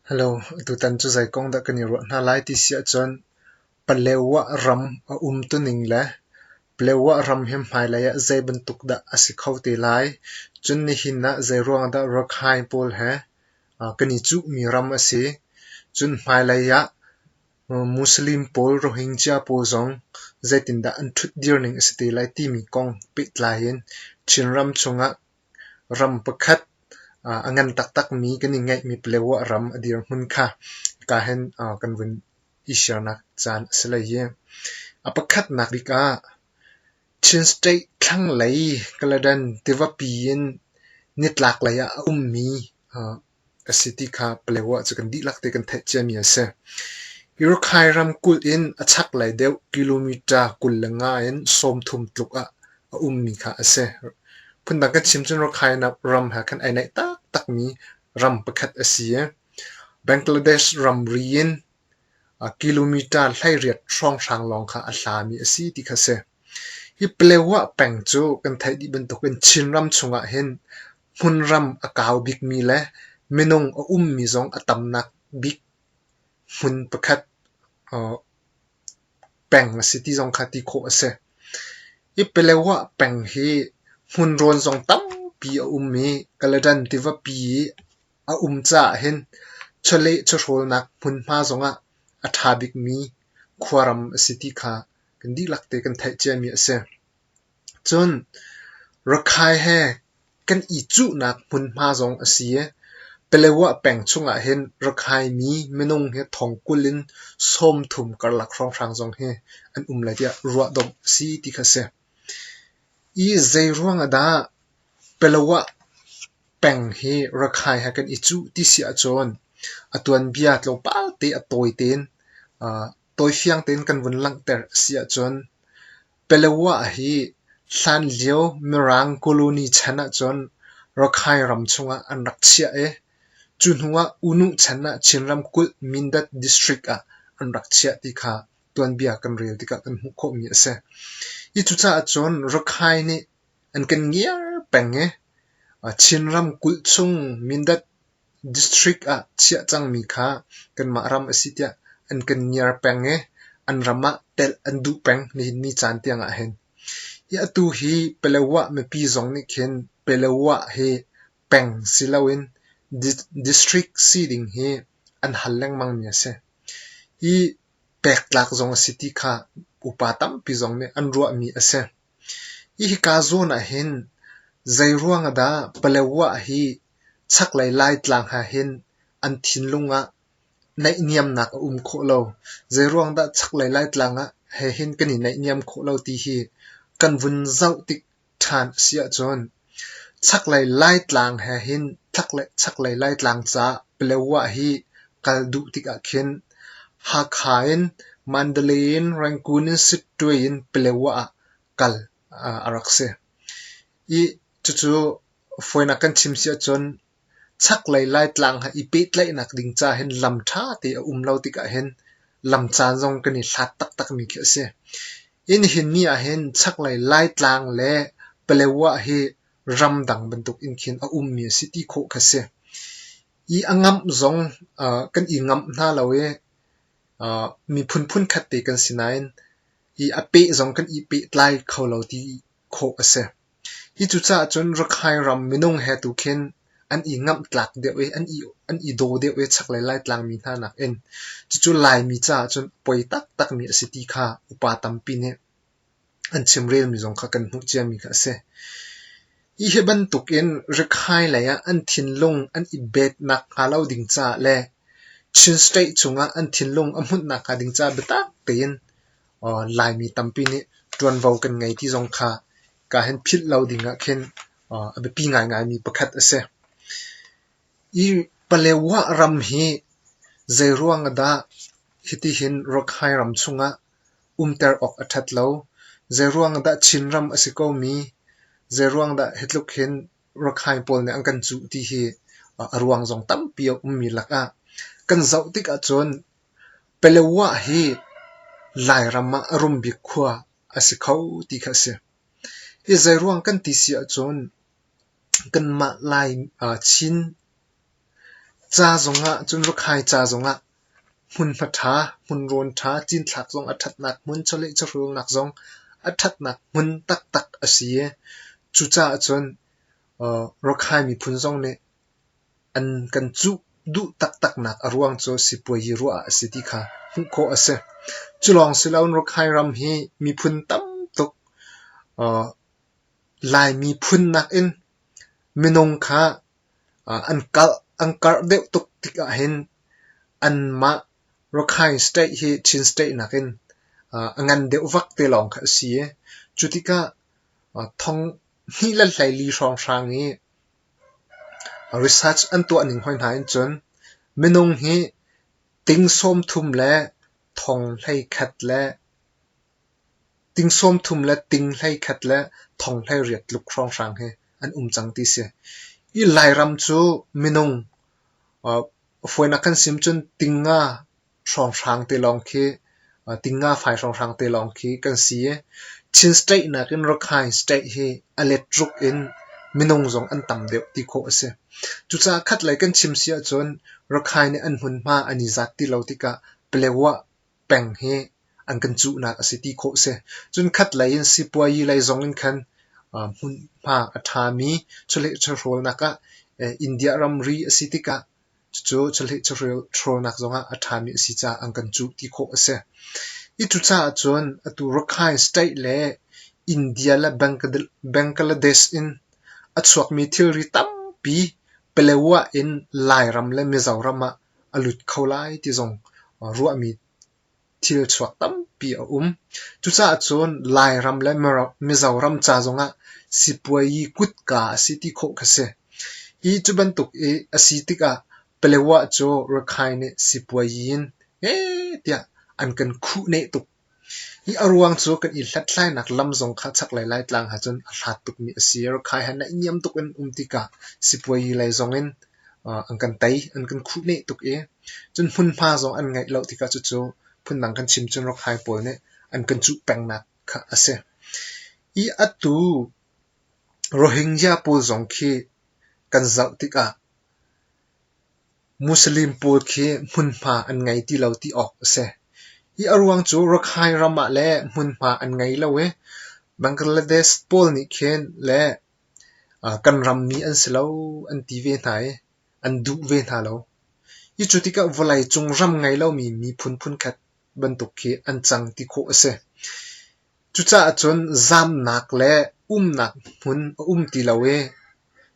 Hello, tutan cu zei kong dah kan i ruah hna lai ti si ahcun Palewa ram a um tuning le Palewa ram hi hmailei ah zei bantuk dah a si kho te lai, cun nihin ah zeiruang dah Rakhine pawl he kan i cuhmi ram a si, cun hmailei ah Muslim pawl, Rohingya pawl zong zeitindah an ṭhut dir ning a si te lai timi kong pehtlai in Chinram chung ah Ram pakhat a ngan taktakmi kan i ngeihmi paleo ah ram a dirhmun kha hika hin kan vun i shirnak caan a si lai hi. A pakhatnak bik ah Chin State thlanglei Kaladan tivapi in nitlaklei ah a ummi a si ti kha Palaeoa cu kan dihlak te kan theih ciami a si. Irukhay ramkulh in a chaklei deuh kilometer kul le nga in sawmthum tluk ah a ummi kha a si. Phundang kan chim cun Rakhine ram he kan ai naih taktakmi ram pakhat a si i Bangladesh ramri in kilometer hleiriat hrawnghrang lawng kha a hlami a si ti kha a si. Hi Palaeoa peng cu kan theih dih bantuk in Chinram chungah hin hmunram a kau bikmi le minung a ummi zong a tamnak bik hmun pakhat peng a si ti zong kha ti khawh a si. Hi Pelewa peng hi hmun rawn zong tampi a um i Kaladan tivapi i a um caah hin chawleh chawhrawlnak hmunhma zongah a ṭha bikmi khuaram a si ti kha kan dihlak te kan theih ciami a si. Cun Rakhine he kan i cuhnak hmunhma zong a si i Paletwa peng chungah hin Rakhine mi minung hi thong kul in sawmthum karlak hrawnghrang zong hi an um lai tiah ruahdomh a si ti kha a si. Hi zeiruang ah dah Paletwa peng hi Rakhine he kan i cuh ti si ahcun a tuanbia tlawmpal te a tawi tein, tawi fiang tein kan vun langhter a si ahcun Paletwa hi hlanlio Mirang colony chan ahcun Rakhine ram chungah an rak chiah i cu hnuah Unu chan ah Chinram kulh Mindat district ah an rak chiah ti kha tuanbia kan rel tikah kan hmuh khawhmi a si. Hi cucaah cun Rakhine nih an kan ngiar peng i Chinram kulh chung Mindat District ah chiah cangmi kha kanmah ram a si tiah an kan ngiar peng i an ram ah telh an duh peng nihin ni caan tiang ahhin. Hi atu hi Palawan mipi zong nih khin Palawan hi peng si loin district si ding hi an hal lengmangmi a si. Hi pektlak zong a si ti kha upa tampi zong nih an ruahmi a si. Hika zawn ah hin zeiruang ah dah Paletwa hi chaklei Laitlang ha hin an thinlung ah naihniamnak a um khawh lo, zeiruang dah chaklei Laitlang ah he hin kan i naihniam khawh lo ti hi kan vun zoh tik ṭhan a si ahcun. Chaklei Laitlang he hin thlanglei chaklei Laitlang ca Paletwa hi kal duh tikah khin Hakha in Mandalay in Rangoon in Sitwe in Paletwa ah kal a rak si i cucu fawinak kan chim si ahcun Chaklei Laitlang i pehtlaihnak ding ca hin lam ṭha te a um lo tikah hin lam caan zong kan i hlat taktakmi khi a si. Inn hin ni ah hin chaklei Laitlang le Paletwa hi ramdang bantuk in khin a ummi a si ti khawh kha si. I a ngamh zong uh, kan i ngamh hna lo i uh, miphun phunkhat te kan si nain i a peh zong kan i pehtlai kho lo ti khawh a si. Hi cucaah cun Rakhine ram minung he tu khin an i ngamhtlak deuh i an i daw deuh i chaklei Laitlangmi hna nakin cucu Laimi caah cun poi taktakmi a si ti kha upa tampi nih an chimrelmi zong kha kan hmuh ciami kha a si. Hi hi bantukin Rakhine lei ah an thinlung an i bet nakhnga lo ding caah le Chin State chungah an thinlung a hmunh nakhnga ding caah biatak tein Laimi tampi nih ṭuanvo kan ngei ti zong kha kaa hin philh lo ding ah khin a biapi ngaingaimi pakhat a si. Hi Palaeoa ram hi zeiruang ah dah hitihin Rakhine ram chung ah umter awk a ṭhat lo? Zeiruang ah dah Chinram a si komi? Zeiruang dah hi tluk hin Rakhine pawl nih an kan cuh ti hi a ruang zong tampi a ummi lak ah kan zoh tik ahcun Paletwa hi Lairam ah a rum bik khua a si kho ti kha a si. Hi zeiruang kan ti si ahcun kanmah Lai Chin ca zongah cun Rukhai ca zongah hmunhma ṭha, hmunrawn ṭha, cinthlak zong a ṭhatnak hmun, chawleh chawhrulnak zong a ṭhatnak hmun taktak a si i cucaah cun Rukhai miphun zong nih An kan cuh duh taktaknak a ruang cu sipuazi ruah ah a si ti kha hmuh khawh a si. Cu lawng si loin Rakhine ram hi miphun tam tuk uh, Laimi phun nakin minung kha uh, an karh an karh deuh tuk tik ahhin anmah Rakhine state hi Chin state nakin uh, a ngan deuh vak te lawng kha a si i cu tikah uh, thong hnih le hleili hrawnghrang i Research an tuahning hawihna in cun minung hi ting sawmthum le thong hleikhat le ting sawmthum le ting hleikhat le thong hleiriat tluk hrawnghrang hi an um cang ti si. Hi Lairam cu minung, uh, fawinak kan sim cun ting nga hrawnghrang te lawng khi tinga fai hrawnghrang te lawng khi kan si i Chin state nakin Rakhine state hi a let ruk in minung zong an tam deuh ti khawh a si. Cucaah khatlei kan chim si ahcun Rakhine nih an hmunhma an i zat ti lo tikah Paletwa peng hi an kan cuhnak a si ti khawh si. Cun khatlei in sipuayi lei zong in khan hmunhma a ṭhami chawlehchawhrawlnak ah India ramri a si tikah Cucu cahleh carel ṭhawlnak zongah a ṭhami a si caah an kan cuh ti khawh a si. Hi cucaah cun atu Rakhine State le India le Bangladesh in a chuakmi thilri tampi Palawa in Lairam le Mizoram ah a lut kho lai ti zong ruahmi thil chuak tampi a um. Cucaah cun Lairam le Mizoram ca zongah sipuayi kutka a si ti khawh kha si. Hi cu bantuk i a si tikah Paletwa cu Rakhine nih sipuayi in ee tiah an kan khuhneh tuk. Hi a ruang cu kan i hlathlainak lam zong kha chaklei Laitlang ha cun a hlat tukmi a si. Rakhine ha naihniam tuk in um tikah sipuayi lei zongin an kan tei, an kan khuhneh tuk i cun hmunhma zong an ngeih lo tikah cucu phundang kan chim cun Rokhai pawl nih an kan cuh pengnak kha a si. Hi atu Rohingya pawl zong khi kan zoh tikah Muslim pawl khi hmunhma an ngei ti lo ti awk a si. Hi a ruang cu Rakhine ram ah le hmunhma an ngei lo i Bangladesh pawl nih khin le kan rammi an si lo an ti ve hna i an duh ve hna lo. Hi cu tikah vawlei cung ram ngei lomi miphun phunkhat bantuk khi an cang ti khawh a si. Cucaah cun zamnak le umnak hmun a um ti lo i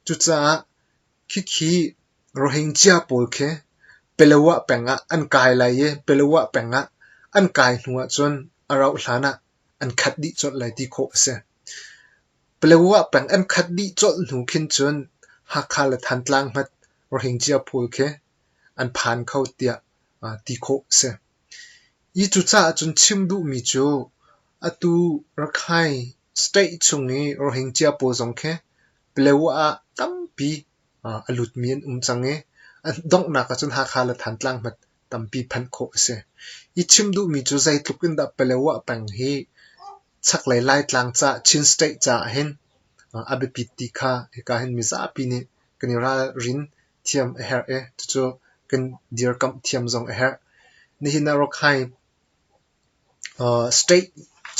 cucaah khikhi Rohingya pawl khi Palawa peng ah an kai lai i Palawa peng ah an kai hnu ahcun a rauh hlan ah an khat dih colh lai ti khawh a si. Paletwa peng an khat dih colh hnu khin cun Hakha le Thantlang hmat Rohingya pawl khi an phan kho tiah ti khawh a si. Hi cucaah cun chim duhmi cu atu Rakhine state chung i Rohingya pawl zong khi Paletwa ah tampi a lutmi an um cang i an donghnak ahcun Hakha le Thantlang hmat tampi phanh khawh a si. I chim duhmi cu zeitluk in dah Palawa peng hi chaklei Laitlang ca, Chin State caah hin a biapit ti kha hika hin mizapi nih kan i ralrin thiam a herh i cucu kan dirkamh thiam zong a herh. Nihin ah Rakhine state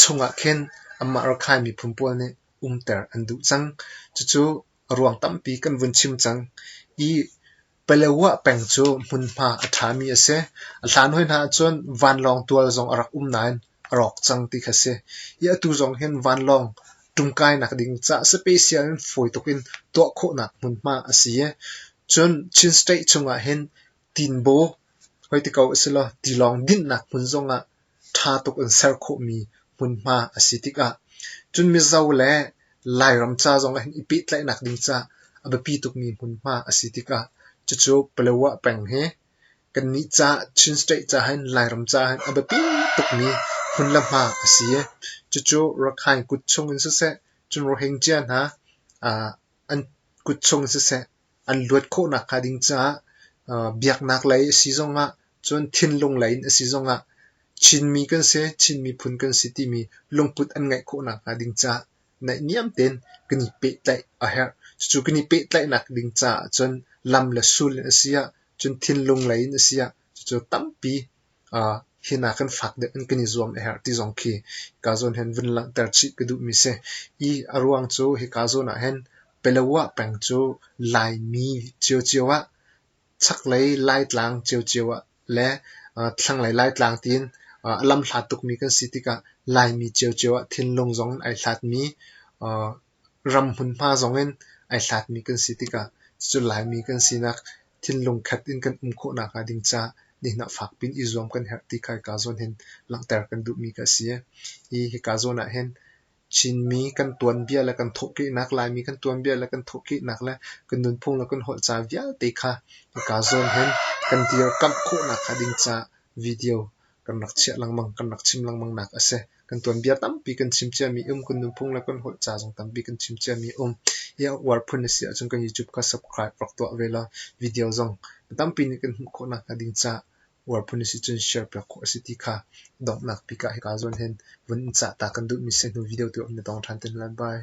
chungah khin anmah Rakhine miphun pawl nih umter an duh cang. Cucu a ruang tampi kan vun chim cang. I Palawa peng cu hmunhma a ṭhami a si. A hlan hoi hna ahcun vanlawng tual zong a rak um nain a rawk cang ti kha a si i atu zong hin vanlawng ṭumkainak ding caah special in fawi tuk in tuah khawhnak hmunhma a si i cun Chin State chungah hin Tinbo hoi ti ko a si law tilawng dinhnak hmun zongah ṭha tuk in ser khawhmi hmunhma a si tikah cun Mizo le Lairam ca zong ah hin i pehtlaihnak ding ca a biapi tukmi hmunhma a si tikah cucu Paletwa peng hi kannih ca Chin State ca hin Lairam ca hin a biapi tukmi hmun le hma a si i cucu Rakhine kut chung in siseh cun Rohingya hna an kut chung in siseh an luat khawh nakhnga ding caah biaknak lei a si zongah cun thinlung lei in a si zongah Chinmi kan si, Chin miphun kan si timi lungput an ngeih khawh nakhnga ding caah naihniam tein kan i pehtlaih a herh. Cucu kan i pehtlaihnak ding caah cun lam le sul in a si ah, cun thinlung lei in a si ah, cucu tampi hi hna kan fak deuh in kan i zuam a herh ti zong khi ka zawn hen vun langhter chih ka duhmi si. I a ruang cu hika zawn ah hin Palawa peng cu Laimi ciocio ah, chaklei Laitlang ciocio ah le thlanglei Laitlang tiin a lam hla tukmi kan si tikah Laimi ciocio ah thinlung zong in ai hlatmi Ram hmunhma zong in ai hlatmi kan si tikah cucu Laimi kan sinak thinlung khat in kan um khawh nakhnga ding caah nihnah fak piin i zuam kan herh ti kha hika zawn hin langhter kan duhmi kha a si. Hi hika zawn ah hin Chinmi kan tuanbia le kan thawhkehnak, Laimi kan tuanbia le kan thawhkehnak le kan nunphung le kan holhca vialte kha hika zawn hin kan dirkamh khawh nakhnga ding caah video kan rak chiah lengmang, kan rak chim lengmang nak a si. Kan tuanbia tampi kan chim ciami um, kan nunphung le kan holh ca zong tampi kan chim ciami um. Hi a uar phun a si ahcun kan YouTube kha subscribe rak tuah ve la, video zong tampi nih kan hmuh khawh nakhnga ding ca uar phun a si cun share piak khawh a si ti kha donghnak bik ah hika zawn hin vun in cah ta kan duhmi si hnu video tu um na dong ṭhan te hna lai. Bye.